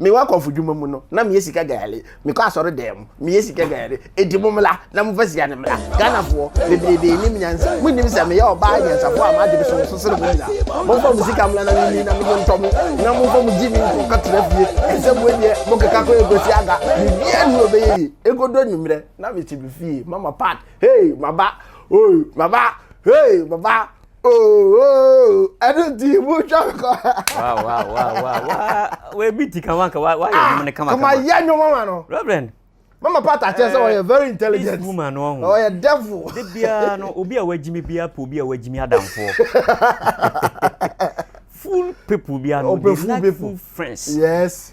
mewɔ akɔmfodwuma mu no na meyɛ sika gayare mekɔ asɔre dan mu meyɛ sika gayare ɛdi mo mmra na mofa sika no mmra ghanafoɔ bebrebe nim nyansa monim sɛ meyɛ ɔbaa nyansafoɔ a maadwene so so sene mo nyina momfa mo sika mmra na memi na mede ntɔ mo na momfa mo gye me nkɔ kɔtena fie ɛsɛ mo deɛ mokeka kɔ ɛkɔsi aga biribiaa ne ɔbɛyɛ yi ɛkɔdɔ nwummerɛ na mete me fie mama pat hei maba oi maba hei maba ɛno nti motwa nkɔwabi ti kama ka wayɛ ah, nwom no kamakama yɛ nwom ama no reverend mama pata kyerɛ sɛ ɔyɛ eh, very intelligent woman no ɔho ɔyɛ devil de biara no obi a wagyimi biara pɛ obi a wagyimi adamfoɔ full people biara no they like full friends yes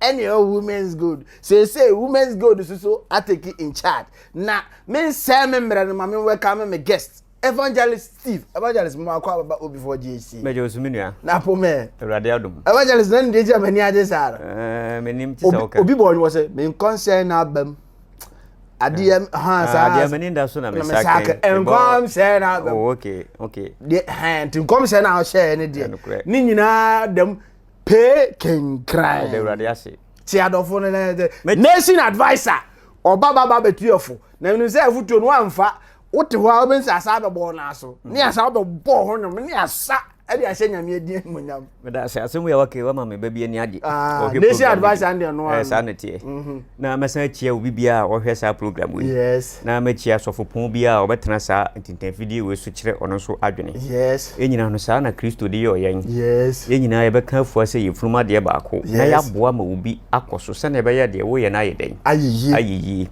ɛne ɔ women's gold seesei women's gold so so atake in charge na mensɛe me mmerɛ no ma me welcome me guest evangelist steve evangelist mo akɔ ababa obi fɔ gye esi mɛgye osu me nua na po mɛ awurade adom evangelist na ndeɛ gye amani agye saa no eh, menim ti sɛ woka obi bɔ ɔnwɔ sɛ menkɔnsɛn na abam adeɛ eh, ha ah, saa adeɛ amani da so na mesakɛ nkɔmsɛn na abam oh, okay okay deɛ hɛn ti nkɔmsɛn na ɔhyɛ ne deɛ ne nyinaa dɛm pay kenkran. ɔda awurade ase. te adɔfo no na nation adviser ɔba baba bɛtuafo na menim sɛ afotuo no wamfa wote hɔ a wobɛhu sɛ asa bɛbɔɔ no aso ne mm. asa wobɛbɔɔ ho nom ne asa ɛde ahyɛ nyame adi animonyam meda sɛ asɛm wei a waka wama me ba bi ani agye ah, nation adviser no deɛ no eh, saa ne teɛ mhm. na mɛsan akyia wo bibiaa a wɔhwɛ saa program wei na makyia asɔfopɔn bi a ɔbɛtena saa ntintanfidie wei so kyerɛ ɔno nso adwene. Yes. Yɛn nyinaa no saa na Kristo de yɔɔ yɛn. Yes. Yɛn nyinaa yɛbɛka afua sɛ yɛfurum adeɛ baako yes. na yɛaboa ma obi akɔ so sɛnea ɛbɛyɛ deɛ woyɛ no ayɛ dɛn? Ayɛ yie. Ayɛ yie.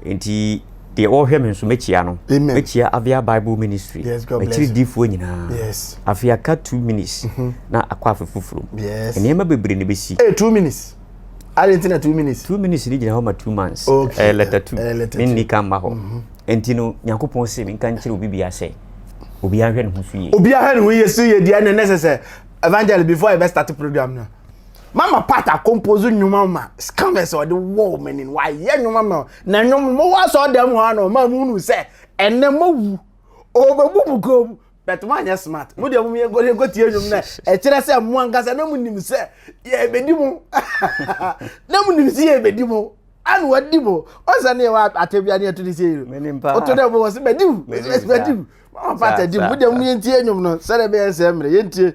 Nti deɛ wɔhwɛ me nso mɛkyia no mɛkyia avia bible ministry makyiri difoɔ nyinaa afei aka two minutes mm-hmm. na akɔ afe foforɔ mu nneɛma bebree na ɛbɛsi eh, two minutes ade nti na two minutes two minutes ni gyina hɔ ma two months ɛyɛ letter two ne nni ka mma hɔ mhm. nti no nyankopɔn se menka nkyerɛ obi bia sɛ obi ahwɛ ne ho so yie obi ahwɛ ne ho yie so yie deɛ ne ne sɛ sɛ evangel before ɛbɛ start program no mama part a compose nnwuma ma scammers ɔde wɔ wɔn ani wayɛ nnwuma ma na nnwom mo wɔ asɔ dɛm hɔ ano ɔma mu nu sɛ ɛnɛ mo wu ɔbɛbu mu kɔn mu. but mo anyɛ smart mo deɛ mo yɛ nkɔ yɛ nkɔ tie nnwom na ɛkyerɛ sɛ mo ankasa na mo nim sɛ yɛ bɛdi mo na mo nim sɛ yɛ bɛdi mo ana wadi mo ɔsɛ ne yɛ wɔ atɛbia ne ɛto ne sɛ yɛ ɔto dɛ mo wɔ sɛ bɛdi mo bɛdi mo mo pata di mo deɛ mo yɛ ntie nnwom no sɛdeɛ bɛyɛ sɛ mmerɛ yɛ ntie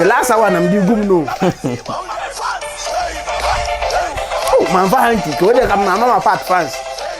the last hour na mdi gum no oh man fa hanky kò ó dẹ̀ ka mama ma fat fans.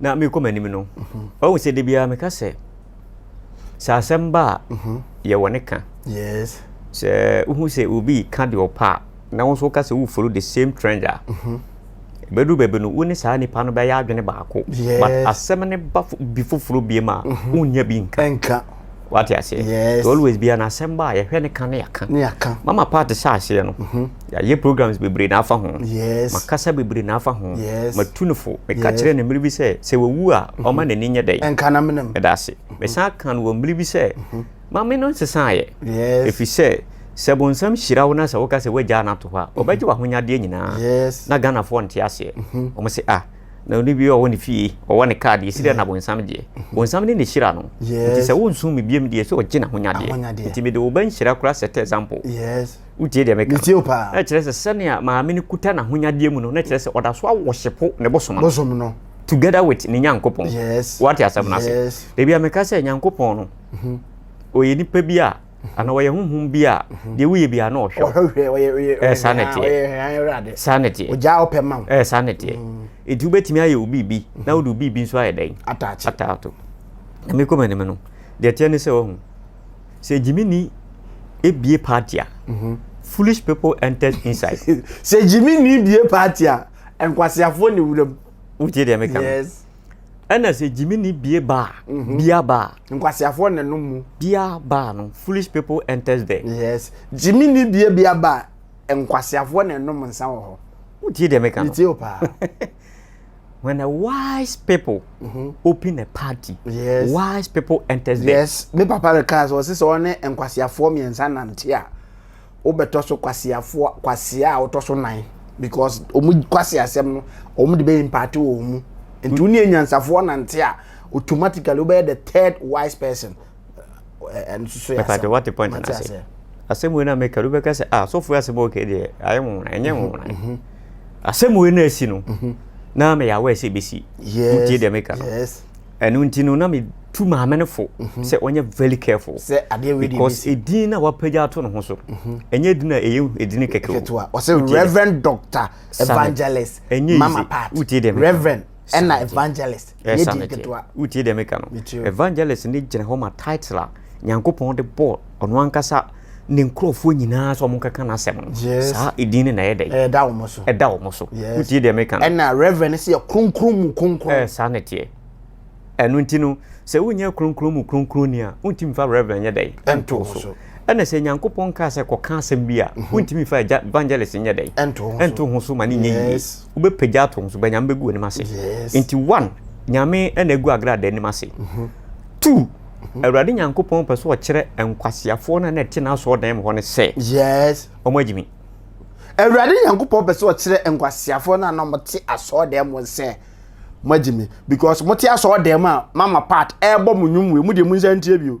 na merekɔ m'anim no ɔhu sɛ da biara meka sɛ sɛ asɛm ba a yɛwɔ ne ka sɛ wohu sɛ obi ka deɛ ɔpɛ a na wo nso woka sɛ wofolo the same trend a bɛduru baabi no wo ne saa nipa no bɛyɛ adwene baako but asɛm ne ba bi foforɔ biem a wonnya bi nka wate aseɛ yes. always bia na asɛm ba a yɛhwɛ ne ka ne yɛka ne yɛka mama part hyɛ aseɛ no mhm. yɛayɛ programs bebree na afa ho yes. makasa bebree na afa ho yes. matu no fo meka yes. kyerɛ ne mmere bi sɛ sɛ wɔwu a mhm. ɔma n'ani nyɛ dɛn ɛnka na menem ɛda ase mhm. mesan ka no wɔ mmere bi sɛ ma me no nsesaeɛ ɛfiri sɛ sɛ bonsam hyira wo na sɛ woka sɛ woagyaa no ato hɔ a ɔbɛgye w'ahonyadeɛ nyinaa na ghanafoɔ nte aseɛ ɔmo se ah na ɔne bi ɔwɔ ne fie ɔwɔ ne kaa deɛ ɛsi dɛ na bonsam deɛ mhm. bonsam ne ne hyira no nti sɛ wonsom me biam deɛ sɛ ɔgye n'ahonyadeɛ nti mede wo ba nhyira kora set example wotie deɛ meka na kyerɛ sɛ sɛnea maame no kuta n'ahonyadeɛ mu no na kyerɛ sɛ ɔda so awɔhyepo ne bosom no together with ne nyankopɔn wate asɛm no ase dabi a meka sɛ nyankopɔn no mhm. ɔyɛ nipa bi a ana ɔyɛ honhom bi a deɛ woyɛ bi a na ɔhwɛ ɛɛ saa na ɛteɛ saa na ɛteɛ ɔgyaa ɔpɛ ma wo ɛɛ saa na ɛteɛ ɛti wobɛtumi ayɛ wo biribi na wode wo biribi nso ayɛ dɛn ataato na mekɔ m'anim no deɛ ɛteɛ ne sɛ wahu sɛ gyimini ebie party a mhm. foolish people entered inside sɛ gyimini ebie party a nkwaseafoɔ ne wuram wotie deɛ meka no ɛna sɛ gyimi ni bie baa mhm. bia baa nkwaseafoɔ na no mu bia baa no foolish people enters there yes gyimi ni bie bia baa nkwaseafoɔ na ɛnom nsa wɔ hɔ wotie deɛ meka no metie o paa when a wise people mm -hmm. open a party yes. wise people enters there yes me papa rekaa sɛ ɔse sɛ ɔne nkwaseafoɔ mmiɛnsa nante a wobɛtɔ so kwaseafoɔ kwasea a wotɔ so nan because wɔn kwaseasɛm no wɔn de bɛ impact wɔ wɔn mu nti wɔn yɛ nyansafoɔ nante a automatically wobɛyɛ the third wise person ɛno soso yɛ asɛm wate point na ase asɛm wei na meka do bɛka sɛ ah sɔfo asɛm a ɔka deɛ ayɛ nwona ɛnyɛ nwona mhm, mhm. asɛm wei na asi no mhm. na meyɛ awɛ sɛ ɛbɛsi wotie deɛ meka no ɛno nti no na metu maame no fo mhm. sɛ ɔnyɛ very careful sɛ adeɛ wei because edin na wapagya ato ne ho so mhm. ɛnyɛ edin na ɛyɛ edin kɛkɛ o ɔsɛ reverend doctor evangelist mama part reverend ɛna evangelist yɛ di nketewa wotie deɛ meka no evangelist ne gyina hɔ ma title a Nyankopɔn de bɔɔ Ɔno Ankasa Ne nkorɔfoɔ nyinaa sɛ wɔnkɛka N'asɛm no. Yes. Saa edin no na ɛyɛ dɛn? Ɛda wɔn so. Ɛda wɔn so. Yes. Wotie deɛ meka no? Ɛna Reverend no sɛ yɛ kronkron mu kronkron. Ɛɛ, saa na ɛteɛ. Ɛno nti no, sɛ wonyɛ kronkron mu kronkronni a, wontumi mfa Reverend nyɛ dɛn? Nto wo so. Ɛna sɛ Nyankopɔn kaa sɛ kɔka asɛm bi a, wontumi mfa agya, evangelist nyɛ dɛn? Nto wo so. Nto wo so ma no nyɛ yie. Yes. Wobɛpagya ato wo so, but Nyame bɛgu w'anim ase. Yes. Nti one, Nyame na agu Agradaa anim ase. Two, Awurade Nyankopɔn pɛ sɛ ɔkyerɛ nkwaseafoɔ no a na ɛte n'asɔɔdan mu hɔ no sɛ, Yes. wɔn agye me. Awurade Nyankopɔn pɛ sɛ ɔkyerɛ nkwaseafoɔ no a na wɔte asɔɔdan mu sɛ, mo agye me. Because mote asɔɔdan mu a, mama part ɛrebɔ mo nnwom wei, mo deɛ mo nsa ntie bio.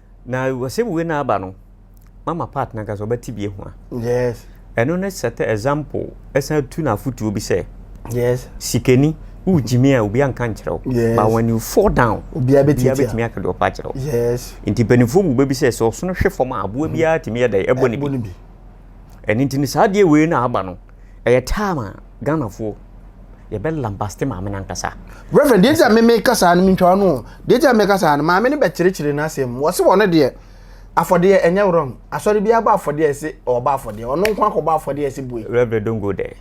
Na asɛm wei na aba no mama part no ankasa ɔbɛte bi ahu a. Yes. Ɛno ne set example ɛsan tu no afotuo bi sɛ. Yes. Sikani wogyimi a obi anka nkyerɛ wo. Yes. But when you fall down. Obiara bɛtumi aka deɛ ɔpɛ akyerɛ wo. Yes. Nti mpanimfoɔ mu bɛbi sɛ sɛ ɔsono hwe fam a aboa biara tumi yɛ dɛ ɛbɔ ne bi. Ɛno nti no saa adeɛ wei na aba no. Ɛyɛ time a Ghanafoɔ yɛbɛ lambaste maame no ankasa. Reverend, deɛ gya meme ka saa no, mentwa wo no, deɛ gya meme ka saa no, maame no bɛkyerɛkyerɛ n'asɛm mu, ɔse wɔn deɛ, afɔdeɛ ɛnyɛ wrong, asɔre biara bɔ afɔdeɛ a ɛse ɔbɔ afɔdeɛ, ɔno nko akɔbɔ afɔdeɛ a ɛse bue. Reverend don't go there,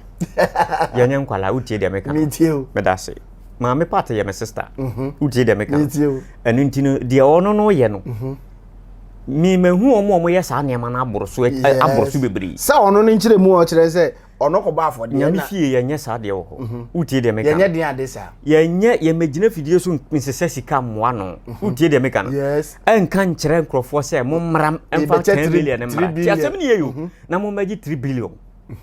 yɛnyɛ nkwalaa, wotie deɛ meka no, medase, maame part yɛ me sister, wotie deɛ meka no, ɛno nti no deɛ ɔno no yɛ no, memahu wɔn a wɔyɛ saa nneɛma no aboro so aboro so bebree sɛ ɔno no nkyerɛ mu a ɔkyerɛ sɛ ɔno kɔbɔ afɔdeɛ nyame fie yɛnyɛ saa deɛ wɔ hɔ mhm. wotie deɛ meka yɛnyɛ den ade saa yɛnyɛ yɛmɛgyina fidie so nsesɛ sika mmoa no mhm. wotie deɛ meka no ɛnka nkyerɛ nkurɔfoɔ sɛ mommra mfa 10 billion mmra ti asɛm ne yɛyo mhm. na mommɛgye 3 billion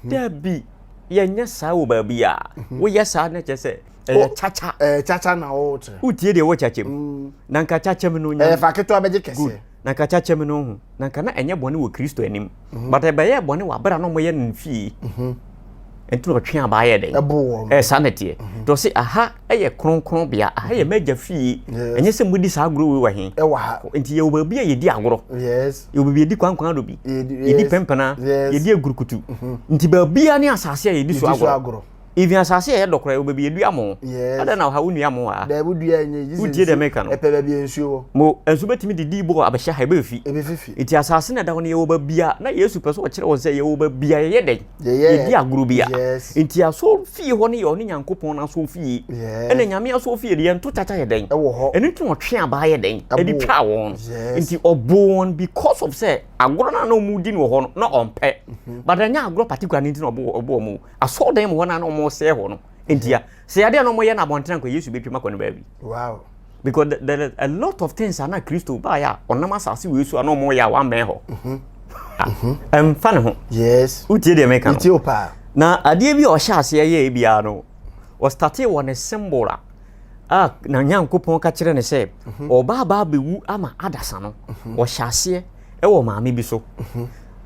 daabi yɛnyɛ saa wɔ baabi a woyɛ saa na kyɛ sɛ ɛyɛ kyakya ɛyɛ kyakya na ɔrekyerɛ wotie deɛ ɛwɔ kyakyam mm. na nka kyakyam no nya ɛfa ketewa bɛgye kɛseɛ na nka kyakyam no ho na nka na ɛnyɛ bɔne wɔ kristo anim mhm. but ɛbɛyɛ bɔne wɔ abera na ɔmɔyɛ no fie mhm. nti na ɔtwe abaa yɛ dɛn ɛɛ saa na teɛ mhm. tɔ se aha ɛyɛ kronkron bea aha yɛ mɛgya fie ɛnyɛ sɛ modi saa agorɔ wei wɔ he ɛwɔ ha nti yɛwɔ baabi a yɛdi agorɔ yɛwɔ baabi yɛdi kwankwan do bi yɛdi pɛmpɛna yɛdi agurukutu nti baabi a ne asase a yɛdi so agorɔ Even asase a ɛyɛ dɔ koraa, obebi edua mo. Yes. Adɛn na ɔha wo nua mo a? Dɛbi dua enye yi. Wodie dɛm eka no. Ɛpɛ baabi a nsuo wɔ. Mo nso betumi de dii bɔ abɛhyɛ ha ebe efi. Ebe fifi. Eti asase na ɛda hɔ no yɛwɔ baabi a na Yesu pɛ sɛ ɔkyerɛ wɔn sɛ yɛwɔ baabi a yɛyɛ dɛn? Yɛdi agorɔ bi a. Yes. Enti asɔr fie hɔ no yɛ ɔne Nyankopɔn n'asɔr fie. Yes. Ɛna Nyame asɔr fie deɛ yɛnto kyakya yɛ dɛn? Ɛwɔ hɔ. Ɛno nti na ɔtwe abaa yɛ dɛn? Ɛde twaa wɔn. Yes. Enti ɔboo wɔn because of sɛ agorɔ no a na wɔredi no wɔ hɔ no na ɔmpɛ. But ɛnyɛ agorɔ particular no nti na ɔboo wɔn o. Asɔrdan mu hɔ na na wɔn sɛɛ hɔ no. Ntia sɛ adeɛ na wɔn yɛ na abɔnten anka Yesu bɛtwam akɔ ne baabi. Wow. Because there are a lot of things ana Kristo baayɛ a ɔnam asase wei so a na wɔn yɛ a wɔamɛn hɔ. Mhm. Ah, ɛmfa ne ho. Yes. Wotie deɛ mɛka no. Wotie o paa. Na adeɛ bi a ɔhyɛ aseɛ yɛ ebi ara no ɔstate wɔ ne symbol a a na Nyankopɔn ka kyerɛ ne sɛ mhm. ɔba aba abɛwu ama adasa no mhm. ɔhyɛ aseɛ ɛwɔ maame bi so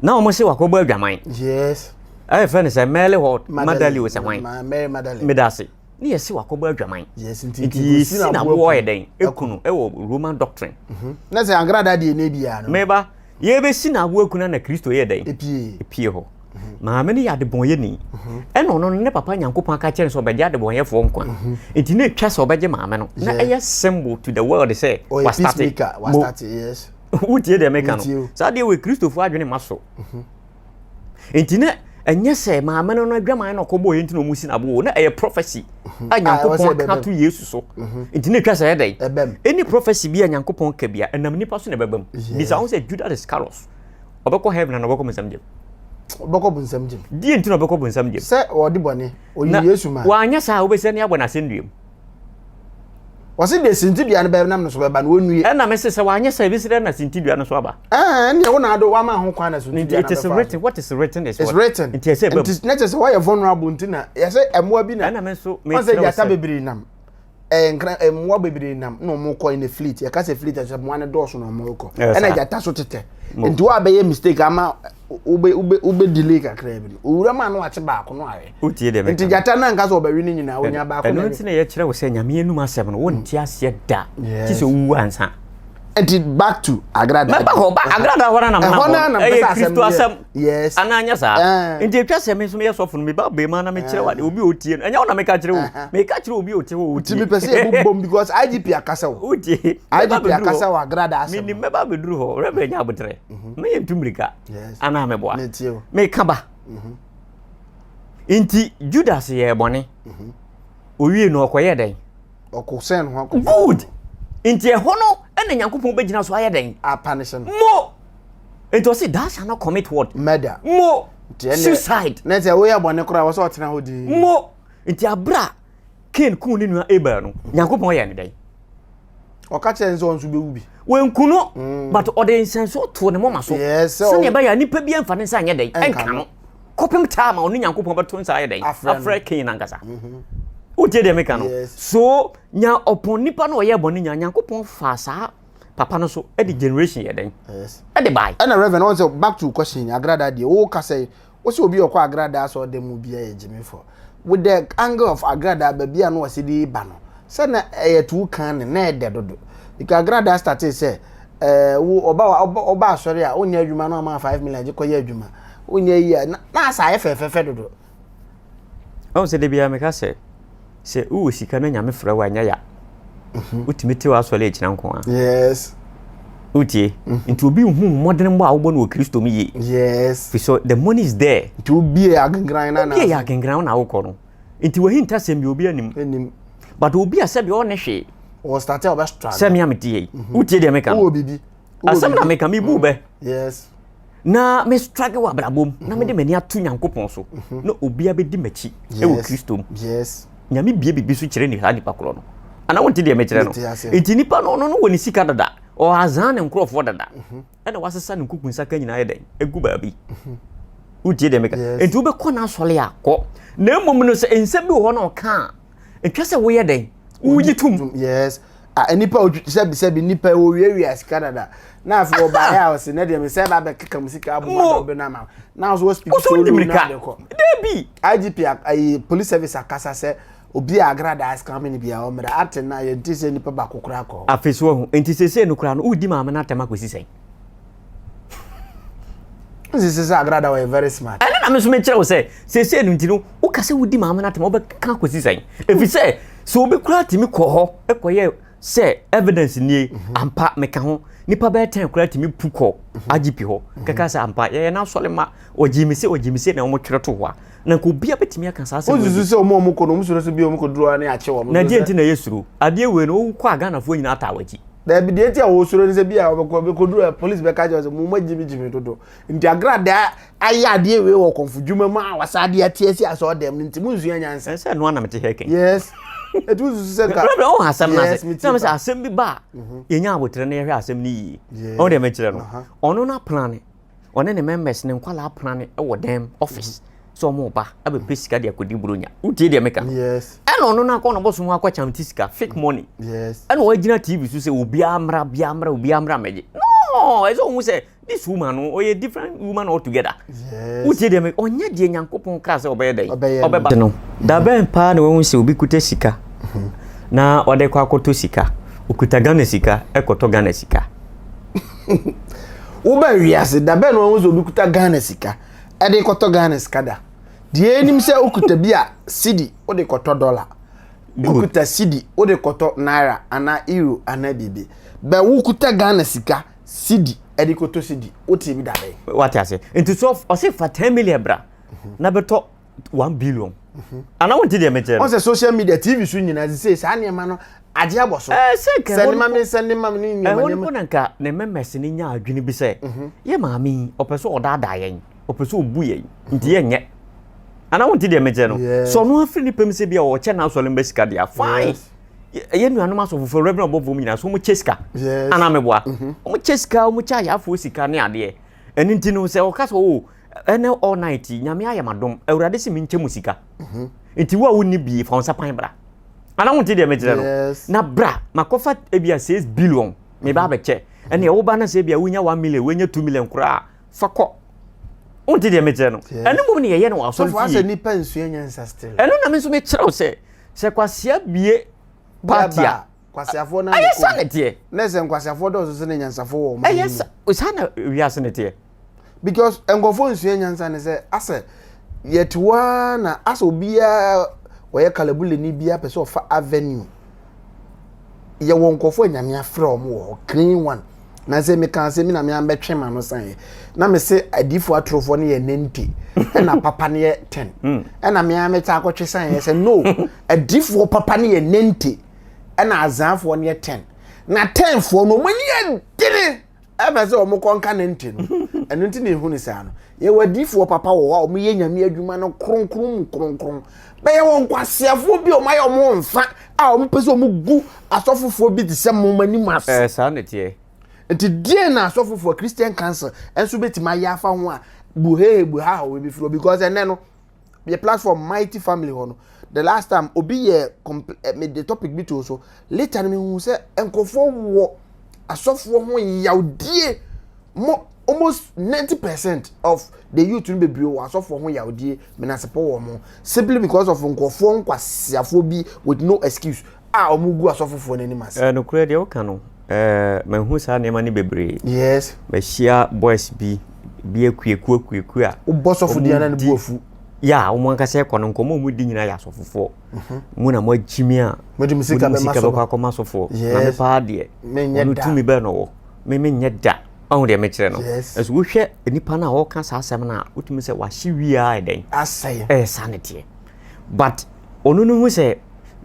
na wɔn sɛ wakɔbɔ adwaman. Yes. ɛyɛ eh, fɛ ne sɛ mɛle hɔ madali wɔ sɛ hwan meda ase ne yɛse wakɔbɔ adwaman nti yɛsi na boɔ yɛ dɛn ɛku no ɛwɔ roman doctrine mhm. na sɛ ankrada deɛ ne biaa no meba yɛbɛsi na aboɔ aku no na kristo yɛ dɛn ɛpie hɔ mhm. maame no yɛ adebɔnyɛni mhm. ɛna ɔno no ne papa nyankopɔn aka kyerɛ sɛ ɔbɛgye adebɔnyɛfoɔ nkwa nti na ɛtwa sɛ ɔbɛgye maame no na ɛyɛ symbol to the world sɛ wastate wotie deɛ meka no saa deɛ wɔ kristofoɔ adwene ma so nti na ɛnyɛ sɛ maame no no adwaman na ɔkɔ bɔɔyɛ nti na ɔmo si n'abo o na ɛyɛ prɔfɛsi mhm. a nyankopɔn ka to yesu so mhm. nti na etwa sɛ ɛdɛ ɛni prɔfɛsi bi a nyankopɔn ka bi a ɛnam nipa so na ɛbɛbam bisa ho sɛ judas iscariot ɔbɛkɔ heaven na ɔbɛkɔ mo nsɛm gyem ɔbɛkɔ bu nsɛm gyem die nti na ɔbɛkɔ bu nsɛm gyem sɛ ɔde bɔne ɔyi yesu ma wanyɛ saa wobɛsɛ ne abɔ n'asɛnnua mu wɔsi deɛ sintidua no bɛyɛ nam no so bɛba na wɔnnue. ɛna mese sɛ wanyɛ sɛ ebesi dɛ na sintidua no so aba. ɛɛ ɛnna wɔn ado wɔn ama ho kwan na sintidua no bɛfa. it is written what is written is what. it's written nti ɛsɛ ɛbɛm. nti ne kyɛ sɛ wɔyɛ vulnerable nti na yɛsɛ ɛmoa bi na. ɛna mi nso mi kyerɛw sɛ wɔn sɛ yata bebree nam ɛɛ nkran ɛmoa bebree nam na wɔn kɔ ɛna fleet yɛka sɛ fleet ɛsɛ ɛmoa no dɔɔso na wɔn kɔ ɛna yata so tetɛ nti wɔn abɛyɛ mistake ama. wobɛ wobɛ wobɛ delay kakra bi no owura mu a na wate baako no ayɛ wotie deɛ nti gyata no anka sɛ ɔbɛwe no nyinaa onya baako ɛno nti na yɛkyerɛ wo sɛ nyame anum asɛm no wonte mm. aseɛ da kyi sɛ wowu ansa nti back to agrada mɛba hɔ ba agrada hɔ na ɛhɔ na na ɛyɛ kristo asɛm yes ana anya saa eh. nti atwa sɛ me nso meyɛ sɔfo no meba bɛma na mekyerɛ wade eh. obi otie no ɛnyɛ wo na meka kyerɛ wo eh, meka kyerɛ obi ote hɔ otie timi pɛ sɛ yɛbu bom because igp akasa wo wotie igp akasa wo agrada asɛm menim mɛba bɛduru hɔ rɛbɛ nya abotrɛ mhm. meyɛ ntu mmirika anaa meboa meka ba mhm. nti judas yɛɛ bɔne mhm. owie no ɔkɔyɛ dɛn good nti ɛhɔ no ɛna nyankopɔn bɛgyina so ayɛ dɛn mo nti ɔse thou shall not commit what murder mo suicide na sɛ woyɛ bɔne koraa wɔ sɛ ɔtena hɔ din mo nti aberɛ a kain kuu ne nua abel no nyankopɔn yɛ ne dɛn ɔka kyerɛ ne sɛ ɔno nso bɛwu bi wɔnku no mm. but ɔde nsɛnsoɔ too ne moma so sɛdeɛ ɛbɛyɛ a nnipa bi amfa ne nsa nyɛ dɛn ɛnka no kɔpem taa ma ɔne nyankopɔn bɛto nsa ayɛ dɛn afrɛ king no ankasa mhm. wotie deɛ meka no so nya ɔpɔn nipa no ɔyɛ bɔne nya nyankopɔn faa saa papa no so ɛde generation yɛ dɛn ɛde bae ɛna reverend ɔn sɛ back to question agrada deɛ woka sɛ Wo sɛ obi a ɔkɔ agradaa asɔr dɛm mu biara yɛ gyimifo. With the angle of agradaa baabi a na ɔsɛ de reba no, sɛ na ɛyɛ to wo kan no, na ɛdɛ dodo. Because agradaa startee sɛ, eh, wo, ɔba, ɔba, ɔba asɔre a, wonyɛ adwuma na ɔma five million gye kɔyɛ adwuma. Wonyɛ yi a, na, na asa ayɛ fɛfɛɛfɛ dodo. Woahu sɛ da biara meka sɛ. Sɛ wowɔ sika na Nyame frɛ wo a, ɛnyɛ ya. Mhm. Wotumi te w'asɔre agyina nko a. Yes. Wotie? Mhm. Nti obi nhu mmɔdenbɔ a wobɔ no wɔ Kristo mu yie. Yes. Fi so the money is there. Nti wobie yɛ agengran na na. Wobie yɛ agengran na wokɔ no. Nti wahinta sɛm bi obi anim. Anim. But obi a sɛbi ɔne hwee. Wɔ start a ɔbɛ struggle. Sɛmi a mete yɛ yi. Mhm. Wotie deɛ meka no. Wowɔ bibi. Asɛm na meka mebu bɛ. Yes. na me struggle wɔ abrabɔ mu na mede m'ani ato nyankopɔn so mhm. na obia bɛdi m'akyi wɔ kristo mu nyame bie biribi so kyerɛ ne saa nipa korɔ no anaa wonte deɛ mekyerɛ no nti nipa no ɔno no wɔ ne sika dada ɔhazaa ne nkurɔfoɔ dada mhm. ɛna wasesa ne nkuku nsaka nyinaa yɛ dɛn ɛgu baabi mhm. wotie deɛ meka nti wobɛkɔ no asɔre a kɔ na mmom no sɛ nsɛm bi wɔ hɔ na ɔka a ɛtwa sɛ woyɛ dɛn wogye tom yes a nipa sɛbi sɛbi nipa owiawia sika dada na afei ɔbaeɛ a ɔse na deɛ mesɛ ba bɛkeka mu sika aboma bɛ no ama na so wɔspiki sɛ wolu no ade kɔ dabi igp ayi police service akasa sɛ obi a agradaa sika mene bia ɔmmra ate na yɛnte sɛ nipa baako koraa kɔ afei so ahu nti sesei no koraa no wodi maame no atɛm akɔsi sɛn sisi sɛ agrada wɔyɛ very smart. ɛne na me nso mekyerɛ wo sɛ seesei no nti no woka sɛ wodi maame no atɛm wobɛka kɔsi sɛn ɛfiri sɛ sɛ obi koraa tumi kɔ hɔ kɔyɛ sɛ evidence nie mhm. ampa meka ho nipa bɛyɛ tɛn koraa tumi pu kɔ mhm. agp hɔ mhm. kɛka sɛ ampa yɛyɛ no asɔre ma ɔgyimi sɛ ɔgyimi sɛ na wɔtwerɛ to hɔ a na nka obiara bɛtumi aka saa asɛm wosusu sɛ ɔma ɔmo kɔ no ɔmo suro sɛ bi ɔmo kɔduru hɔ ne akye wɔn na deɛ nti na ɛyɛ suro adeɛ wei no wokɔ a ghanafoɔ nyinaa taa wakyi daabi deɛ nti a wɔsuro ne sɛ bi a wɔbɛkɔ bɛkɔduru a polisi bɛka kyerɛ sɛ mo ma gyimi gyimi dodo nti agradaa ayɛ adeɛ wei wɔ kɔmfo dwuma mu a wasa adeɛ ate asi asɛ ɔdɛm no nti mo nsua nyansa ɛsɛ ɛno anam te hɛ kɛn yes ɛti wosusu sɛ ka brɛbrɛ ɔho asɛm no ase sɛ sɛ asɛm bi ba a mhm. yɛnya aboterɛ na yɛhwɛ asɛm no yie ɔno deɛ mekyerɛ no ɔno no apena ne Ɔne ne members ne nkwadaa prane wɔ dan mu office sɛ wɔn reba abɛpɛ sika de akɔdi buronya. Wotie deɛ meka no? Yes. Ɛna ɔno no akɔ na bɔso mu akɔ kyamti sika fake money. Yes. Ɛna wagyina TV so sɛ obiara mmra biara mmra obiara mmra mmɛgye. No, ɛsɛ ohun sɛ this woman no ɔyɛ different woman altogether. Yes. Wotie deɛ meka ɔnyɛ deɛ Nyankopɔn kaa sɛ ɔbɛyɛ dɛn? Ɔbɛyɛ no. Ɔbɛba no. Da bɛn paa na wɔn sɛ obi kuta sika mhm. na ɔde kɔ akɔtɔ sika. Okuta Ghana sika ɛkɔtɔ Ghana sika. Woba wiase da bɛn na wɔn sɛ obi kuta Ghana sika ɛde kɔtɔ Ghana sika da? Deɛ enim sɛ okuta bi a sidi wode kɔtɔ dɔla, okuta sidi wode kɔtɔ naira anaa euro anaa biribi. Bɛ wokuta Ghana sika sidi ɛde kɔtɔ sidi wote bi da bɛn? Wate aseɛ nti so ɔse fa ten million bra na bɛtɔ. one billion mhm. ana wọn ti deɛ mi kyerɛ no. wọn sɛ social media tv so nyinaa sise saa nneɛma no agye abɔ so. ɛɛ sɛ nka ɛhɔ nima mi sɛ nima mi ni nneɛma nneɛma. ɛhɔ niko na nka ne mɛmɛs ni nya adwene bi sɛ. Mhm. yɛ maame yi ɔpɛ sɛ ɔdaadaa yɛn ɔpɛ sɛ ɔbu yɛn mhm. nti yɛ nyɛ ana wọn ti deɛ mi kyerɛ no. sɛ ɔno afiri ne pɛm sɛ bi a ɔkyɛ n'asɔre mbɛ sika deɛ fine ɛyɛ nuanom asɔfofoɔ rɛbɛn ɔbɔfoɔ mu nyinaa so wɔn kyɛ sika ana mɛboa wɔn kyɛ sika wɔn kyɛ ayafoɔ sika ne adeɛ ɛni ti no sɛ ɔka sɛ o. Oh, Ɛnɛ all night yi nyame ayɛ m'adom awurade se menkyɛ mu sika nti wo a wonni bie fa wo nsa pan bra ana wonte deɛ mekyerɛ no na bra makɔfa ebi a 6 billion meba abɛkyɛ ɛne ɛwo ba na sɛ ebi a wonya 1 million wonya 2 million koraa fa kɔ wonte deɛ mekyerɛ no ɛno mmom ne yɛyɛ no wɔ asɔre fie ɛno na me nso mekyerɛ wo sɛ sɛ kwasea bie party a kwasiafoɔ na ɛyɛ sa na teɛ na ɛsɛ nkwasiafoɔ dɔɔso sɛ ne nyansafoɔ wɔ ɔmo ɛyɛ sa sa na wiase na teɛ because nkɔfoɔ nsua nyansa ne sɛ asɛ yɛte hɔ ara na asɛ obiara ɔyɛ kalabuleni biara pɛ sɛ ɔfa avenue yɛwɔ nkɔfoɔ nyame afrɛ ɔmo wɔ hɔ clean one na sɛ meka sɛ mi na me ambɛtwe ma no san yɛ na me se adiifoɔ atorofoɔ no yɛ nante ɛna papa no yɛ ten hmm. ɛna me amɛta akɔtwe san yɛ sɛ no adiifoɔ papa no yɛ nante ɛna azeafoɔ no yɛ ten na tenfoɔ no wɔn ani yɛ dene ɛfɛ sɛ wɔn kɔ nka ne nte no ɛno nti na ehu ne saa no yɛwɔ adiifoɔ papa wɔ hɔ a wɔn yɛ nyame adwuma no kronkron mu kronkron bɛyɛ wɔn nkwaseafoɔ bi a wɔn ayɛ wɔn nfa a wɔn pɛ sɛ wɔn gu asɔfofoɔ bi te sɛ wɔn anim ase. ɛɛ saa na teɛ. nti deɛ na asɔfofoɔ christian council ɛnso bɛtumi ayɛ afa ho a buhehe buhaha wɔn bɛfiri hɔ because ɛnɛ no. yɛ platform mighty family hɔ no the last time obi yɛ compl eh, me de topic bi to so later no mehu sɛ nkurɔfoɔ wɔ asɔfoɔ ho yawdie mo almost ninety percent of the youth no bebree wɔ asɔfoɔ ho yawdie menasepɔ wɔ mo simply because of nkurɔfoɔ nkwasiafoɔ bi with no excuse a wɔgu asɔfofoɔ no anim ase. Nokorɛ deɛ woka no, mahu saa nneɛma no bebree. Yes. Mahyia boys bi bi akuaku akuaku a. Wobɔ sɔfo di ana ne bu afu. Ya a wɔn ankasa ɛkɔ no nkɔmɔ wɔn di nyinaa yɛ asɔfofoɔ. Mhm. Mu na mo akyimi a. Mo de mo sika bɛma sɔfo. Mo de mo sika bɛkɔ akɔma sɔfoɔ. Yes. Na me paa deɛ. Menyɛ da. Wɔn tumi bɛn na wɔ. Me menyɛ da. Ɔho deɛ mekyerɛ no. Yes. Ɛso wohwɛ nipa no a ɔka saa asɛm no a wotumi sɛ wahye wie a ɛdɛn. Asɛe. Ɛyɛ saa ne teɛ. but ɔno no hu sɛ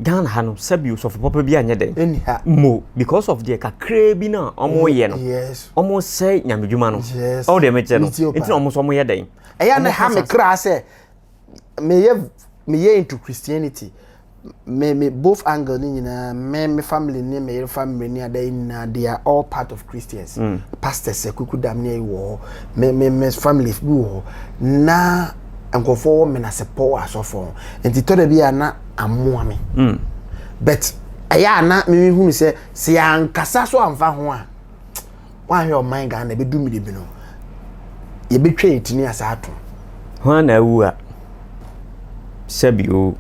Ghana ha no sɛbi osɔfo papa bi anyɛ dɛn ɛni ha mo because of deɛ kakraa bi no a wɔn yɛ no yes wɔn sɛ nyamedwuma no Yes. ɔwɔ deɛ mekyerɛ no Metie wo paa. nti na wɔn nso wɔn yɛ dɛn ɛyɛ na Wɔn ha kasa me so. kra sɛ meyɛ meyɛ into christianity me me both angle ne nyinaa me me family ne me yere family ne ada nyinaa they are all part of christians pastors akuku dam ne wɔ hɔ me me me family bi wɔ hɔ na nkurɔfoɔ wɔ menasepɔ wɔ asɔfoɔ ho nti tɔ da bi a na amoa me mm. but ɛyɛ a na mehunu sɛ sɛ yɛankasa so amfa ho a woahwɛ ɔman ghana ɛbɛdu mmere bi no yɛbɛtwa yɛtini asa ato ho a na awu a sɛbio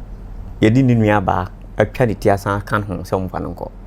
yɛde ne nuabaa atwa ne ti asan aka ho sɛ ɔmfa no nkɔ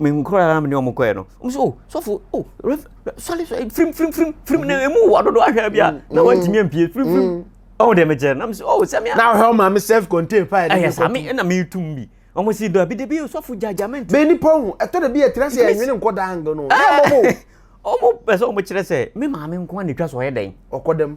mehu koraa na mene wɔn kɔɛ no wɔn sɛ oh sɔfo oh rev sɔre sɔre firim firim firim firim na emu wɔ dodo ahwɛ bi a mm, na wɔn ntumi mm. mpie firim firim mm. ɔwɔ deɛ mekyɛ na mo sɛ oh sɛmi a. na ɔhɛ ɔma mi self contained fire. ɛyɛ saa mi ɛna mi tum bi wɔn si dɔ bi de bi sɔfo gyaagyaa mi nti. bɛn nipa ohun ɛtɔ de bi yɛ tira sɛ ɛnwene nkɔ daa ngan no ɛyɛ mɔbɔ. wɔn pɛ sɛ wɔn kyerɛ sɛ mi maame nko na etwa sɛ ɔyɛ dɛn. ɔkɔ dɛm.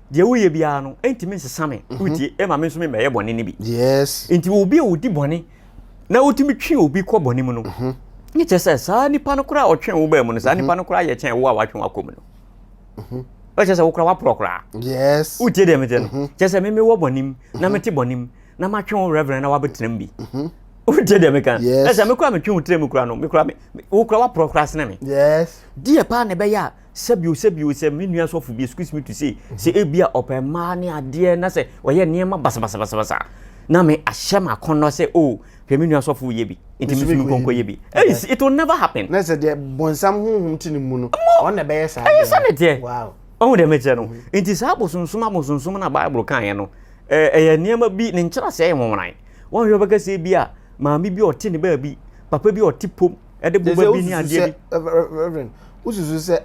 deɛ woyɛ biara no ntumi nsesa me mhm. wotie ɛma me nso me mɛyɛ bɔne no bi yes nti obi a odi bɔne na wotumi twe obi kɔ bɔne mu no mhm. ne kyɛ sɛ saa nipa no koraa ɔtwe wo baa mu no saa mhm. nipa no koraa yɛ kyɛn wo a watwe wakɔ mu no ɛkyɛ sɛ wokora waporɔ koraa yes wotie deɛ meteɛ no kyɛ sɛ meme wɔ bɔne mu na mete bɔne mu na matwe wo reverend na wabɛtena mu bi wotie deɛ meka ɛsɛ mekora metwe wo tira mu kora no mekora wokora waporɔ koraa sene me yes deɛ paa na ɛbɛyɛ a Sɛbio sɛbio sɛ me nua sɔfo bi excuse me to say sɛ ebia ɔpɛ mmaa ne adeɛ na sɛ ɔyɛ nneɛma basabasabasa na me ahyɛ ma akɔnnɔ sɛ o oh, hwɛ me nua sɔfo yɛ bi nti me nso nkɔnkɔ yɛ bi it will never happen. na sɛ deɛ bɔnsam honhom te ne mu no ɔn na ɛbɛyɛ saa ɛyɛ sɛ ne teɛ wow ɔhu deɛ mekyerɛ no mm-hmm. nti saa abosonsom abosonsom na bible kaeɛ no ɛyɛ eh, nneɛma bi ne nkyerɛ sɛ ɛyɛ nwanwan wɔn hwɛ bɛka sɛ bi a maame bi ɔte ne baabi papa bi ɔte pom ɛde boba bi ne adeɛ bi. reverend wosusu sɛ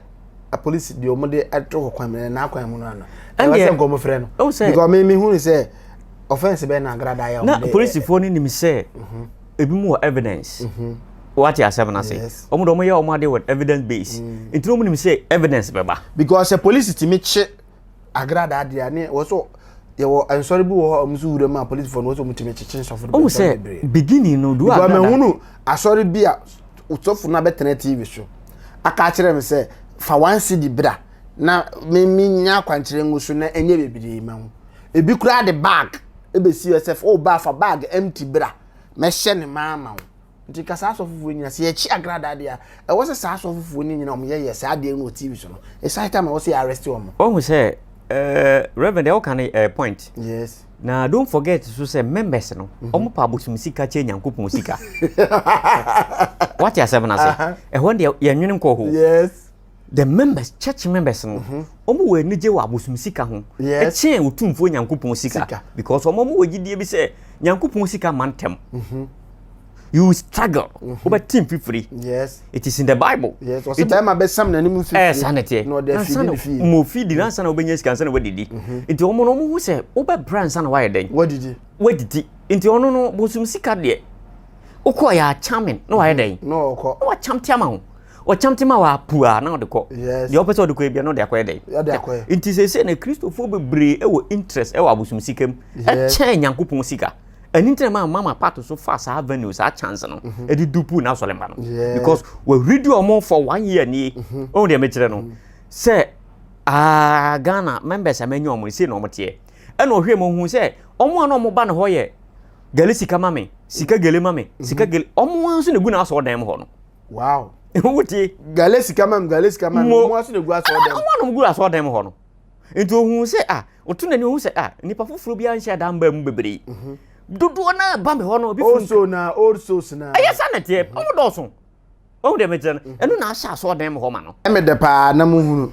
apolisi deɛ wɔn de ato hɔ kwan mu na n'akwan mu no ano. ɛwɔ sɛ nkɔmɔ frɛ no. ɛwɔ sɛ because mi mi hu sɛ offence bɛyɛ na agrada yɛ wɔn de. na polisifoɔ no nim sɛ mhm. ebi mu wɔ evidence. Mhm. wate asɛm no ase wɔn de wɔn yɛ wɔn ade with evidence base mm. nti wɔn nim sɛ evidence bɛba. because sɛ polisi ti mi kye. Agradaadeɛ a ne wɔ so yɛwɔ nsɔre bi wɔ hɔ a wɔn nso wura mu a polisifoɔ no wɔ sɛ wɔn tumi kyekye nsɔfo no Ohun sɛ bebree. beginning no do Because agrada. mehunu asɔre bi a sɔfo no abɛtena TV so aka akyerɛ me sɛ fa one cedi bra na me menya akwankyerɛ ngu so na ɛnyɛ bebree ma ho. Ebi koraa de bag ɛbɛsi hɔ sɛ fa- o baa fa bag empty bra mɛhyɛ ne ma ama wo. Nti nka saa asɔfofoɔ yi nyina sɛ yɛkye agradaa deɛ a, ɛwɔ sɛ saa asɔfofoɔ no nyina wɔn yɛyɛ saa adeɛ no wɔ TV so no. It's high time a ɛwɔ sɛ yɛ arrest wɔn. Wahu sɛ eh, Reverend deɛ woka no eh, point. Yes. Na don't forget nso sɛ members no, mhm. wɔn pa abosom sika kyɛ Nyankopɔn sika. Wate asɛm no ase? Ɛhɔ deɛ yɛnwene nkɔ hɔ. Yes. the members church members no wɔn mhm. wɔ anigye wɔ abosom sika ho ɛkyɛn otumfuo nyankopɔn sika because wɔn wɔn wɔ gyidie bi sɛ nyankopɔn sika ma ntɛm mhm. you struggle mhm. wobɛ team fifiri yes it is in the bible yes wɔsi bɛrima bɛ sam na ne mu fifiri ɛɛ sanni tiɛ ansana mo fi di na ansana wobɛnya sika ansana wadidi nti wɔn wɔn ho sɛ wobɛ bra ansana wayɛ dɛn wadidi wadidi nti wɔn no bosom sika deɛ okɔ yɛ akyamɛn na wayɛ dɛn na ɔkɔ na wakyam tiama ho. Ɔkyɛm te ma waa pua na ɔde kɔ. Yes. Deɛ ɔpɛ sɛ ɔde kɔ ebia na ɔde akɔyɛ dɛn? Ɔde akɔyɛ. Nti sɛsɛ na Kristofoɔ bebree wɔ interest wɔ abosom sika mu. Ɛkyɛn Nyankopɔn sika. Ɛno nti na maa mama pato so fa saa venue saa chance no mhm. ɛde dupu na asɔre mba no. Because wɔahuridi wɔn for one year nie. Mhm. Ɔhu deɛ mekyerɛ no mhm. sɛ aa ah, Ghana members a manya wɔn sei na wɔn teɛ. Ɛna ɔhwɛ mu ɔhu sɛ wɔn a na wɔn ba ne hɔ yɛ gɛle sika ma me sika gɛle ma me sika gɛle wɔn nso na egu na asɔ ɔdan mu hɔ no. wow wote gale sika mam gale sika mam mo aso na gu aso ɔdɛm ɔmo anom gu aso ɔdɛm hɔ no nti ohun sɛ a ɔto n'ani ohun sɛ a nipa foforɔ bi anhyɛ adan mbaa mu bebree mhm. dodoɔ naa ba mi hɔ no obi fun also na also na ɛyɛ sa na teɛ ɔmo dɔɔso ɔmo deɛ mi kyerɛ no mhm. ɛno na ahyɛ aso ɔdɛm hɔ ma no ɛmɛ dɛ paa na mo hunu.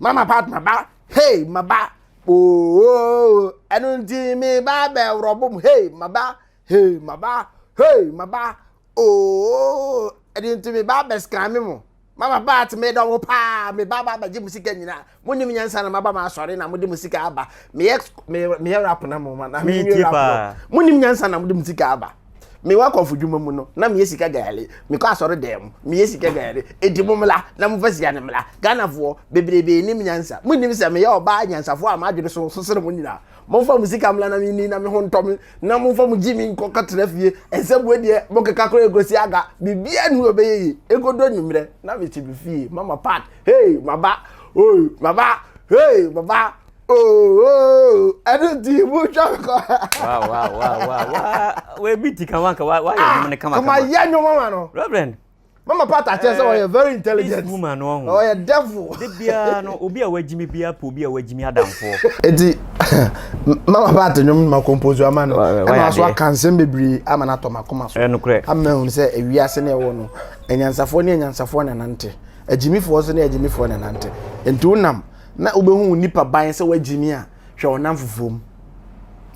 Mama part ma ba hey ma ba ooo ɛno nti me ba bɛ worɔ bom hey ma ba hey ma ba hey ma ba ooo ɛno nti me ba bɛ scan me mo mama ba te me dɔ mo paa me ba ba bɛgye mo sika nyinaa mo nim nyansa na ma ba ma asɔre na mo de mo sika aba meyɛ meyɛ rap na mo ma na me rap no mo nim nyansa na mo de mo sika aba Mewɔ akɔmfodwuma mu no, na meyɛ sika gayare. Mekɔ asɔre dan mu, meyɛ sika gayare. Edi mo mmara, na mofa sika no mmara. Ghanafoɔ, bebrebe nnim nyansa. Monnim sɛ meyɛ ɔbaa nyansafoɔ a m'adwene so so sene mo nyinaa? Momfa mo sika mmra na menni na me ho ntɔ me, na momfa mo gyimi nkɔ kɔtena fie. Nsɛmmoa deɛ, mokeka koraa ɛkɔsi aga. Biribiara nni hɔ a ɛbɛyɛ yie. Ɛkɔdu anwummerɛ, na mete me fie. Mama Pat, Hey, maba! Oi, maba! Hey, maba! ɛno nti motwa me kɔ wɔbi ti ka wanka wayɛ nwom no kamakama yɛ nwom ama no reverend mama pata kyerɛ sɛ ɔyɛ very intelligent this woman no ɔho ɔyɛ devil de biara no obi a wagyimi biara pɔ obi a wagyimi adamfoɔ enti mama pata nwom ma compose ama no ɛna aso aka nsɛm bebree ama no atɔ makoma so ɛnokorɛ ama hunu sɛ ewiase ne ɛwɔ no anyansafoɔ ne anyansafoɔ na nante agyimifoɔ so ne agyimifoɔ na nante enti wonam Na wobɛhu wo nipa ban sɛ woagyimi a, hwɛ ɔnam fofoɔ mu.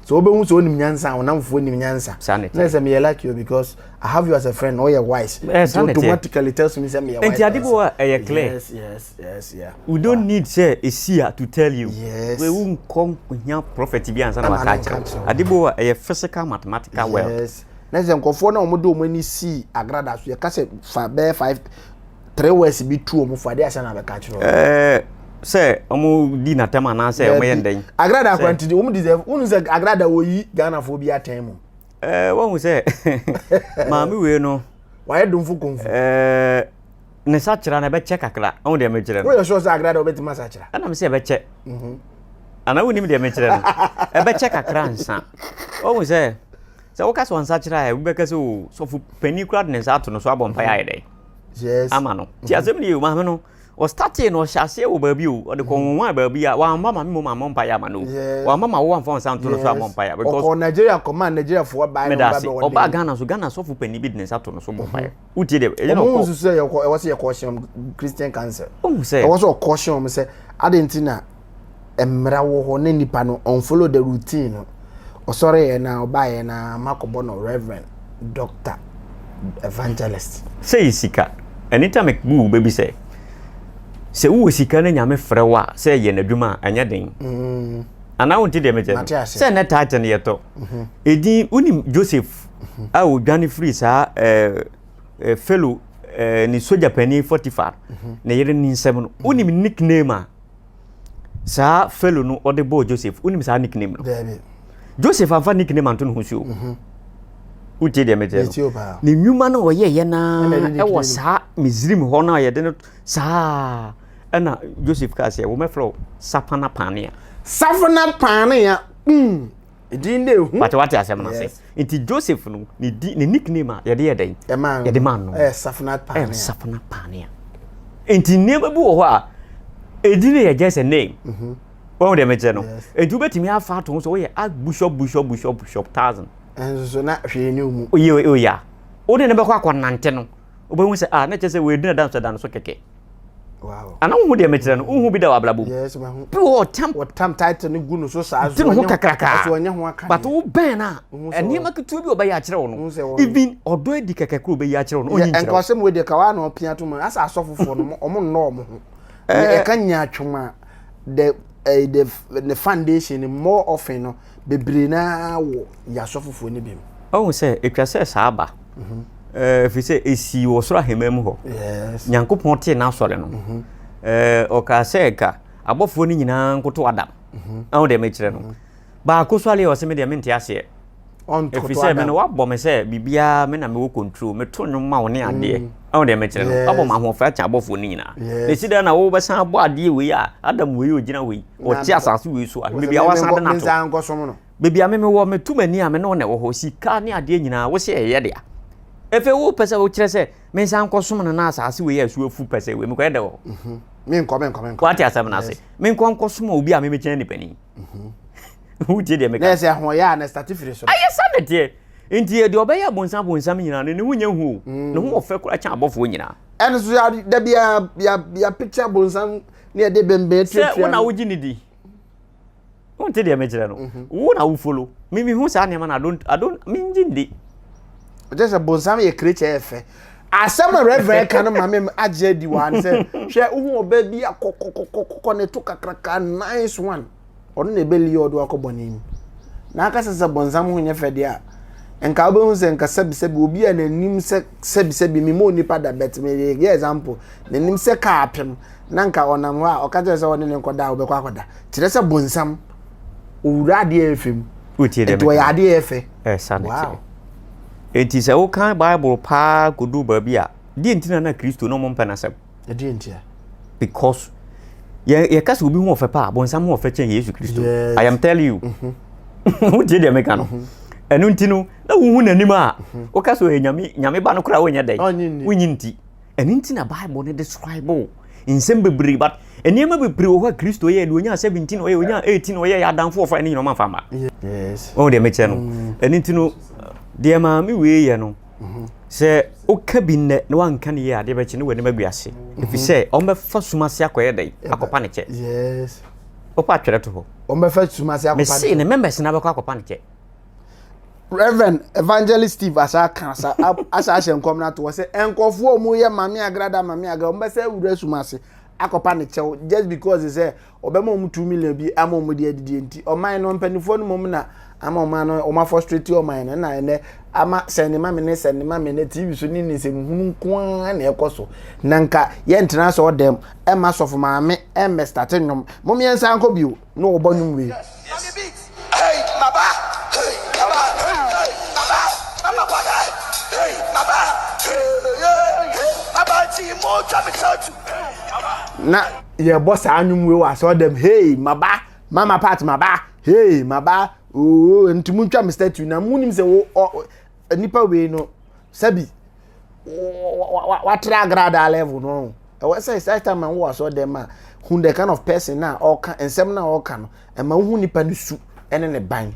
Sɛ wobɛhu sɛ wonim nyansa a, ɔnam fofoɔ nim nyansa. Na ɛsɛ meyɛ lucky o because I have you as a friend na woyɛ wise. Eh, so automatically tells me sɛ meyɛ wise. Nti ade bo a ɛyɛ clear. Yes, yes, yes, yeah. We don't need sɛ ɛsi a to tell you. Yes. We wonkɔ hia prophet bi ansa na waka akyerɛ. Ade bo a ɛyɛ physical mathematical world. Yes. Na sɛ nkɔfoɔ na wɔde wɔn ani si agrada so yɛka sɛ fa bɛyɛ five three words bi tu wɔn fo adeɛ asɛn na bɛka kyerɛ wɔn. ɛɛ sɛ wɔn di n'atɛm anaasɛ wɔn yɛ ndɛn. agrada akwanti de wɔn deserve wɔn sɛ agrada wɔyi ghana fo bi atɛn mu. ɛɛ wɔn sɛ maame wei no. wɔayɛ domfo kɔnfu. ɛɛ ne sakyera na ɛbɛkyɛ kakra wɔn deɛ mekyerɛ no. wɔyɛ sure sɛ agrada wɔbɛti ma sakyera. ɛna mi sɛ ɛbɛkyɛ. Mhm. ana wɔn nim deɛ mekyerɛ no ɛbɛkyɛ kakra nsa wɔn sɛ sɛ wɔka sɛ wɔn sakyera yɛ wɔbɛka sɛ o oh, sɔfo panyin kura de ne nsa ato no so abɔ mpa yɛ ayɛ dɛ. yes ama no ti mhm. asɛm ni o maame no ɔstate no ɔhyɛ aseɛ wɔ baabi o ɔde kɔn mhm. wɔn a baabi a wɔamma maame mu maame mpa yɛ ama no wɔamma ma wɔwɔ nfa nsa nto no so amɔ mpa yɛ because ɔkɔ nigeria kɔma nigeria fo ɔbaa no ɔbaa bɛ wɔn ɔbaa ghana so ghana sɔfo panyin bi de ne nsa to no so mɔ mpa yɛ wotie deɛ ɛyɛ na ɔkɔ ɔmo nso sɛ ɛwɔ sɛ yɛ kɔɔhyɛn christian council ɔmo sɛ ɛwɔ sɛ ɔkɔɔhyɛn ɔmo sɛ adi nti na mmara wɔ hɔ na nipa no ɔnfollow the routine no ɔsɔre yɛ na ɔba yɛ na makɔbɔ no reverend doctor evangelist. Sɛ yɛ sika anytime it bu wo bɛbi sɛ sɛ wowɔ sika na nyame frɛ wo a sɛ yɛ n'adwuma a ɛnyɛ den mm. anaa wonte deɛ mekyɛ no sɛ nnɛ taate no yɛtɔ mhm. ɛdin wonim Joseph mhm. a ɔdwane firi saa eh, eh, fellow eh, ne sogya panin Potiphar mhm. ne yere ne nsɛm no wonim nickname a saa felo no ɔde bɔɔ joseph wonim saa nickname no joseph amfa nickname anto ne ho so mhm. wotie deɛ mekyerɛ no ne nnwuma no ɔyɛyɛ naa ɛwɔ saa misrim hɔ no a yɛde no saa ɛna joseph kaa sɛ womɛfrɛ wo sapana paanea sapana paanea mm. edin na ehu wate wate asɛm no ase nti joseph no ne di ne nickname a yɛde yɛ dɛn yɛde ma no ɛyɛ safina paanea ɛyɛ safina paanea nti nneɛma bi wɔ hɔ a edin yɛ just a name mhm. wɔn deɛ mekyɛ no nti wobɛtumi afa ato ho sɛ woyɛ a bishop bishop bishop bishop thousand ɛnso so na hwee ne mu oyɛ oyɛ a wode ne bɛkɔ akɔnante no wobɛhu sɛ ah na kyerɛ sɛ wɔadina da nso da no so kɛkɛ ana wohu deɛ mekyerɛ no wohu bi da wɔ abrabɔ mu bi wɔ ɔtam ɔtam title no gu no so saa so ho kakraka so ɔnyɛ ho aka but wo bɛn na nneɛma ketewa bi ɔbɛyɛ akyerɛ wo no even ɔdɔ adi kɛkɛ koro bɛyɛ akyerɛ wo no ɔnyi nkyerɛ wo nkɔsɛm wɔ deɛ ka wa na ɔpia to mu asa asɔfofoɔ no ɔmo nnɔ ɔmo ho ɛka eh, eh. nyaatwom a the eh, the the foundation more often no Bebree no ara wɔ nnyinasoɔ foforɔ no bi mu. Wahu sɛ ɛtwa sɛ saa ba, ɛfiri sɛ ɛsii wɔ soro ahemman mu hɔ. Nyankopɔn tee n'asɔre no, ɔkaa sɛ nka abɔfoɔ no nyinaa nkoto Adam. Wahu deɛ mekyerɛ no? Baako sɔre a ɔse me deɛ mente aseɛ. Ɛfiri sɛ me no wabɔ me sɛ biribiara me na mewɔ control, meto nnwom ma wo ne adeɛ. Ɔn deɛ mekyerɛ no abɔ ma ahoɔfɛ akyɛ abɔfoɔ no nyinaa na ɛsi dɛn na wobɛsan abɔ adeɛ wei a Adam wei ɔgyina wei ɔte asase wei so a baabi a wasan de no ato baabi a meme wɔ meto m'ani a me ne wo na ɛwɔ hɔ sika ne adeɛ nyinaa wo sɛ ɛyɛ dea ɛfei wopɛ sɛ wokyerɛ sɛ mensan nkɔsom no na asase wei a ɛso afu pɛ sɛ wei mekɔyɛ dɛ wɔ hɔ mhm. menkɔ menkɔ menkɔ wate asɛm no ase menkɔ nkɔsom obi a memekyɛn nipani mhm. wogye deɛ meka na ɛsɛ ahoɔyɛ a na ɛstate firi so ayɛ sa ne teɛ nti yɛ deɛ ɔbɛyɛ abonsam bonsam nyinaa no ne ho nyɛ hu o mm. ne ho ɔfɛ kora kyɛn abɔfoɔ nyinaa ɛno so da bi yɛapekye abonsam ne yɛde bɛnbɛn tuatua sɛ wo na wogye ne di wonte deɛ mekyerɛ no mhm. wo na wofolo memehu saa nneɛma no adon adon mengye ndi ɛkyɛ sɛ bonsam yɛ krekyɛ ɛfɛ Asɛm a Rev. ka no ma me agye adi wɔ ha ne sɛ, hwɛ, wohu ɔbaa bi a kɔkɔkɔkɔkɔ ne to kakraka, nice one. Ɔno na ɛbɛ lure ɔde wakɔ bɔne mu. Na aka sɛ sɛ bɔnsam ho nyɛ fɛ deɛ a, nka wobɛhu sɛ nka sɛbisɛbi obi a n'anim sɛ sɛbisɛbi me ma onipa da bet me yɛ example n'anim sɛ kaa apem na nka ɔnam hɔ a ɔka kyerɛ sɛ ɔne ne nkɔda a wobɛkɔ akɔda kyerɛ sɛ bɔnsam owura adeɛ ɛfɛ mu nti ɔyɛ adeɛ ɛfɛ wow. Enti sɛ wokan Bible paa kodu baabi a, deɛ nti na na Kristo na wɔmpɛ n'asɛm? Ɛdeɛ nti a? Because yɛ yɛka sɛ obi ho ɔfɛ paa, bonsam ho ɔfɛ kyɛn Yesu Kristo. Yes. I am telling you. Mm-hmm. Wotie deɛ meka no. Mm-hmm. Ɛno nti no, na wohu n'anim a, mm-hmm. woka sɛ ɔyɛ nyame, nyame ba no koraa wonyɛ dɛn? Wonyi nti. Ɛno nti na Bible no describe nsɛm bebree but nneɛma bebree wɔ hɔ a Kristo yɛɛ deɛ ɔnya 17 ɔyɛ ɔnya 18 ɔyɛ yɛ adamfo ɔfa ne nyina ɔma mfa mma. Yes. Wɔn deɛ mekyɛ no. Mm. Ɛno nti no deɛ maame wei yɛ no mm-hmm. sɛ woka bi nnɛ na wanka ne yɛ adeɛ bɛkye ne w'anim agu ase. Mm-hmm. Ɛfiri sɛ ɔmbɛfa sum ase akɔyɛ dɛn akɔpa ne kyɛ. Yes. Wopa atwerɛ to hɔ. Ɔmbɛfa sum ase akɔpa ne kyɛ. Mese ne members na bɛkɔ akɔpa ne kyɛ. reverend evangelist steve asa aka asa asa ahyɛ nkɔm no ato hɔ sɛ nkurɔfoɔ a wɔyɛ mame agrada mame agra wɔn bɛsɛ awura sum ase akɔpa ne kyɛw just because sɛ ɔbɛma wɔn two million bi ama wɔn de adidie nti ɔman no mpanimfoɔ no mmom na ama wɔn ano wɔn afɔstrate ɔman no na ɛnɛ ama sɛnde mame ne sɛnde mame ne tv so ne ne nsɛm hunu nko ara na ɛkɔ so na nka yɛntena sɛ ɔdɛm ɛma sɔfo maame ɛmmɛstate nnwom mom yɛnsa nkɔ bio na ɔba no mue. Na yɛbɔ saa nnwom wei wɔ asɔɔdam hei maba mama part maba hei maba oo nti mo ntwa me statue na mo nim sɛ wo nnipa wei no sɛbi watra agradaa level no ɛwɔ sɛ saa time wɔ asɔ dɛm a hu the kind of person na ɔka nsɛm na ɔka no ɛma wohu nipa no su ɛne ne ban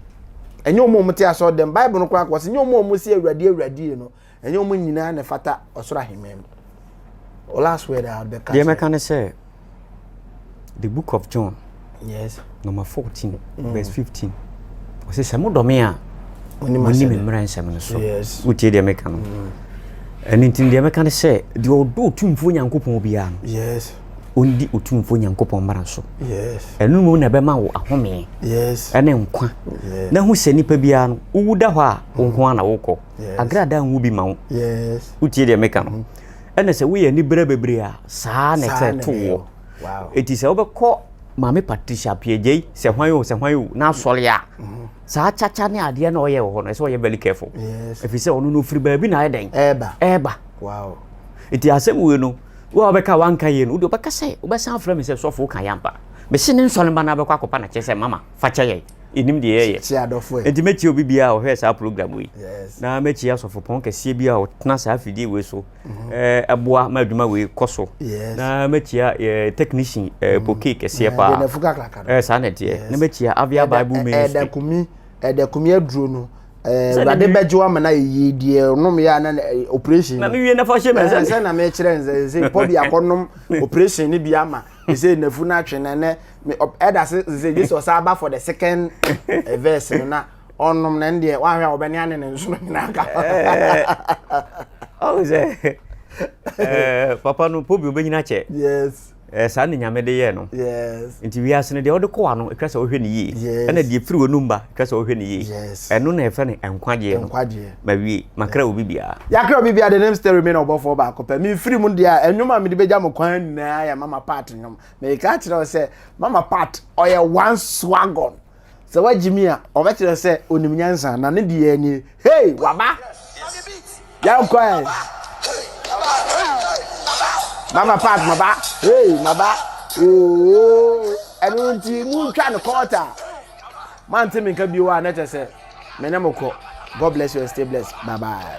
ɛnyɛ wɔn a wɔn te asɔ dɛm bible no koraa kɔ sɛ nyɛ wɔn a wɔn si awurade awurade no ɛnyɛ wɔn nyinaa na ɛfata ɔsoro ahemman mu last word a ɔbɛka deɛ mɛka ne sɛ The Book of John, yes. number 14, mm. verse 15. Ɔsɛ sɛ modɔ me a moni me mmara nsɛm no so. Wotie deɛ meka no. Mm. Ɛno nti deɛ meka no sɛ deɛ ɔdɔ otumfoɔ Nyankopɔn biara no. Yes. Ɔndi otumfoɔ Nyankopɔn mmara so. Yes. Ɛno mu na ɛbɛma wo ahome. Yes. Ɛne nkwa. Yes. Na hu sɛ nipa biara no wowu da hɔ a wo nko ara na wokɔ. Yes. Agradaa nwu bi ma wo. Yes. Wotie deɛ meka no. Mm. Ɛna sɛ woyɛ anibere bebree a saa na ɛsɛ to woɔ. Eti sɛ wobɛkɔ Maame Patricia Appiagyei sɛ hwan o sɛ hwan o n'asɔre a mhm. saa kyakya ne adeɛ na ɔyɛ wɔ hɔ no ɛsɛ ɔyɛ very careful. Ɛfiri sɛ ɔno no ofiri baabi na ayɛ dɛn. Ɛɛba. Ɛɛba. Eti asɛm wei no wo a wobɛka wanka yie no wode wobɛka sɛ wobɛsan afrɛ me sɛ sɔfo woka yɛ ampa. Mese ne nsɔre mba no abɛkɔ akɔpa na kyerɛ sɛ mama fa kyɛ yɛn. ɛnim deɛ yɛyɛ Kye adɔfo ɛ. Enti mɛkyia obi biara a ɔhwɛ saa program yi. Yes. Na mɛkyia asɔfopɔn kɛseɛ biara a ɔtena saa afidie wei so eh, boa ma adwuma wei kɔ so. Yes. Na mɛkyia eh, technician eh, poke kɛseɛ Eh, paa. deɛ nafu kakraka no. Eh, saa na ɛteɛ. Yes. Na mɛkyia Avia Ɛda- Bible ɛ- Ministry. ɛda kumi ɛda kumi aduro no ɛɛ, Sɛdeɛ awurade me- bɛgye wo ama no ayɛ yie deɛ ɔnom yɛ a na na- ɛ, operation Na no. mewie na fa hyɛ me Ɛɛ, nsa. sɛ na mekyerɛ n sɛ sɛ pɔ bi akɔnom operation no bi ama He say nafu na atwe na nɛ me ɛda se sɛ gye sɛ ɔsan aba for the second eh, verse no na ɔnom na ɛn deɛ wahwɛ a ɔbɛne ane ne nsono nyinaa ka ɔhu sɛ papa no pobi ɔbɛnyina kyɛ yes eh, saa ne nyame de yɛ no yes nti wiase no deɛ ɔde kɔwa no ɛtwa sɛ ɔhwɛ ne yie ɛna deɛ firi wɔ no mba kyerɛ sɛ ɔhwɛ ne yie yes ɛno na yɛfrɛ no nkwagyeɛ no nkwagyeɛ mawie makra obi biara yɛakra obi biara de ne msta remain ɔbɔfoɔ baako pɛ memfiri mu deɛ a ɛnwom a mede bɛgya mo kwan nyinaa yɛ mama part nnwom meka kyerɛ wo sɛ mama part ɔyɛ one swagon sɛ woagye mi a ɔbɛkyerɛ sɛ onim nyansa na ne deɛ nie hei waba yɛnkɔɛ mama part maba hei maba oo ɛno nti montwa no kɔɔta Moante me nka bio a na kyɛ sɛ me ne mo kɔ. God bless you and stay blessed. Bye bye.